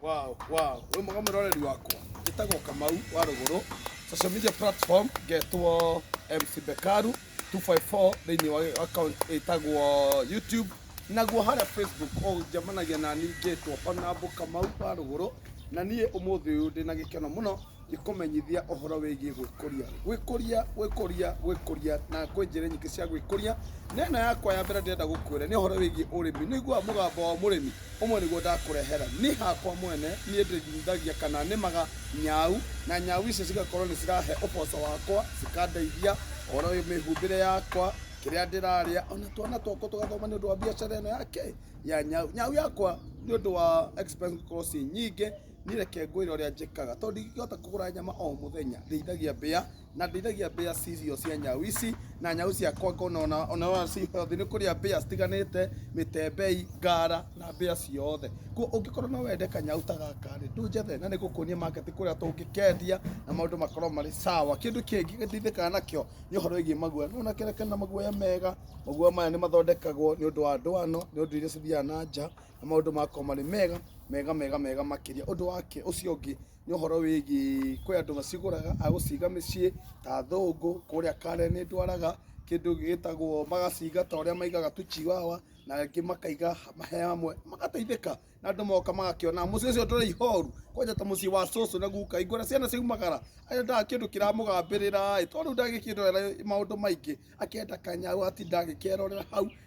Wow, wow. Wĩ mwega mũroreri wakwa. Njĩtagwo Kamau wa Rũgũrũ. Social media platform ngetwo MC Bekaru 254 thĩinĩ wa account ĩtagwo YouTube. Naguo harĩa Facebook ũnjamanagia na niĩ ngetwo Honorable Kamau wa Rũgũrũ. Na niĩ ũmũthĩ ũyũ ndĩ na gĩkeno mũno Gĩkũmenyithia ũhoro wĩgiĩ gwĩkũria. Gwĩkũria, gwĩkũria, gwĩkũria na kwĩ njĩra nyingĩ cia gwĩkũria. Na ĩno yakwa ya mbere ndĩrenda gũkwĩra nĩ ũhoro wĩgiĩ ũrĩmi. Nĩ ũiguaga mũgambo wa mũrĩmi? Ũmwe nĩguo ndakũrehera. Niĩ hakwa mwene, niĩ ndĩrĩithagia kana nĩmaga nyau, na nyau icio cigakorwo nĩ cirahe ũboco wakwa, cikandeithia, ũhoro wĩ mĩhumbĩre yakwa, kĩrĩa ndĩrarĩa, o na twana twakwa tũgathoma nĩ ũndũ wa mbiacara ĩno ya kĩ? Ya nyau. Nyau yakwa nĩ ũndũ wa expense gũkorwo ciĩ nyingĩ. niĩ reke ngwĩre ũrĩa njĩkaga tondũ ndingĩhota kũgũra nyama o mũthenya ndĩithagia mbĩa na ndĩithagia mbĩa cirio cia nyau ici na nyau ciakwa ngona ona ona ona ci healthy nĩ kũrĩa mbĩa citiganĩte mĩtembei ngara na mbĩa ciothe kuo ũngĩkorwo no wende kanyau ta gaka rĩ tũnjethe na nĩngũkuonia market kũrĩa tũngĩkendia na maũndũ makorwo marĩ sawa kĩndũ kĩngĩ gĩteithĩkaga nakĩo nĩ ũhoro wĩgiĩ maguoya nĩ wona kĩrĩa kĩna maguoya mega maguoya maya nĩ mathondekagwo nĩ ũndũ wa ndwano nĩ ũndũ iria cithiaga na nja na maũndũ makwa marĩ mega mega mega mega makĩria ũndũ wake ũcio ũngĩ nĩ ũhoro wĩgiĩ kwĩ andũ macigũraga agũciga mĩciĩ ta athũngũ kũrĩa kare nĩ ndwaraga kĩndũ gĩtagwo magaciga ta ũrĩa maigaga tu chiwawa na angĩ makaiga he hamwe magateithĩka na andũ moka magakĩona mũciĩ ũcio ndũrĩ ihoru kwanja ta mũciĩ wa cũcũ na guka ingĩona ciana ciaumagara endaga kĩndũ kĩramũgambĩrĩra ĩ tondũ rĩu ndagĩkĩrorera maũndũ maingĩ akenda kanyau atinda agĩkerorera hau